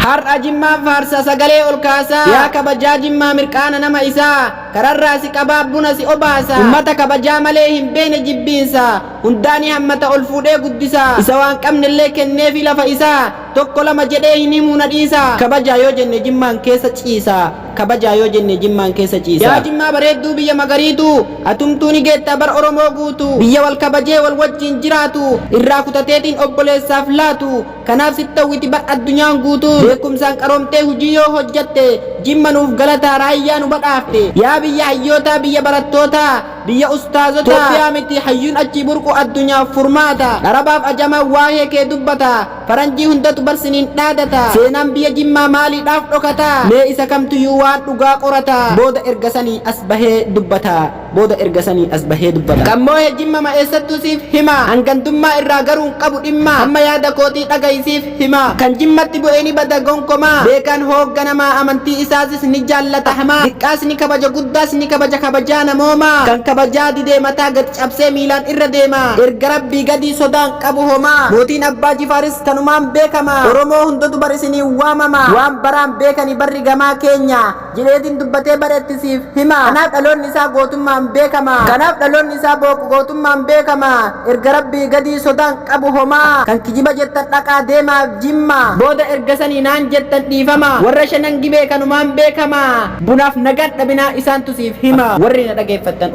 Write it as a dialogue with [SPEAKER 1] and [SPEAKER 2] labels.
[SPEAKER 1] Har'a Jimmaan faarsa sagalee ol kaasa. Yaa kabajaa Jimmaa mirqaana nama isaa. Kararraa si qabaa buna si obaasa. Ummata kabajaa malee hin beene jibbiinsa. Hundaa ni hammata ol fuudhee guddisa. Isa waan qabnellee kenneefii lafa isaa. Tokko lama jedhee hin himuu na dhiisa. Kabajaa yoo jenne Jimmaan keessa ciisa. Kabajaa yoo jenne Jimmaan keessa ciisa. Yaa Jimmaa bareedduu biyya magariituu. Atumtuu ni geettaa bar Oromoo guutuu. Biyya wal kabajee wal wajjiin jiraatu. Irraa kutateetiin obboleessaaf laatu. Kanaaf sitta'u iti bar addunyaan guutuun beekumsaan qaroomtee hujii yoo hojjatte Jimma nuuf galataa raayyaa nu badhaafte yaa biyya hayyootaa biyya barattootaa biyya ustaazotaa Itoophiyaa miti hayyuun achii burqu addunyaaf furmaata Dharabaaf ajamaan waahee kee dubbata faranjii hundatu bar siniin dhaadata Seenaan biyya Jimmaa maaliidhaaf dhokata mee isa kamtuyyuu waan dhugaa qorata booda erga sanii as bahee dubbata. Booda erga sanii as bahee dubbata. Kan moohe jimmama eessattuu siif himaa An gandummaa irraa garuu hin qabu dhimmaa Amma yaada kootii dhagahi siif himaa Kan jimmatti bu'e ni bada gonkomaa Beekaan hoogganamaa Amantii isaatis ni jaallata hamaa Diqqaas ni kabaja guddaas ni kabaja Kabajaa namoomaa Kan kabajaa didee mataa gad cabsee miilaan irra deema Erga rabbii gadii sodaa hin qabu homaa Mootiin abbaa jifaaris kanumaan beekama Oromoo hundatu bar isiniin waamama Waan baraan beekani barri gamaa keenya Jireetiin dubbatee bareetti siif hima. Kanaaf dhaloonni isaa gootummaan beekama. Kanaaf dhaloonni isaa booq gootummaan beekama. Erga Rabbii gadii sodaan qabu homaa. Kan kijiba jettan dhaqaa deemaa Jimmaa. Booda erga sanii naan jettan dhiifama. Warra Shanan Gibee kanumaan beekama. Bunaaf nagaan dhabinaa isaantu siif hima. Warri na dhageeffattan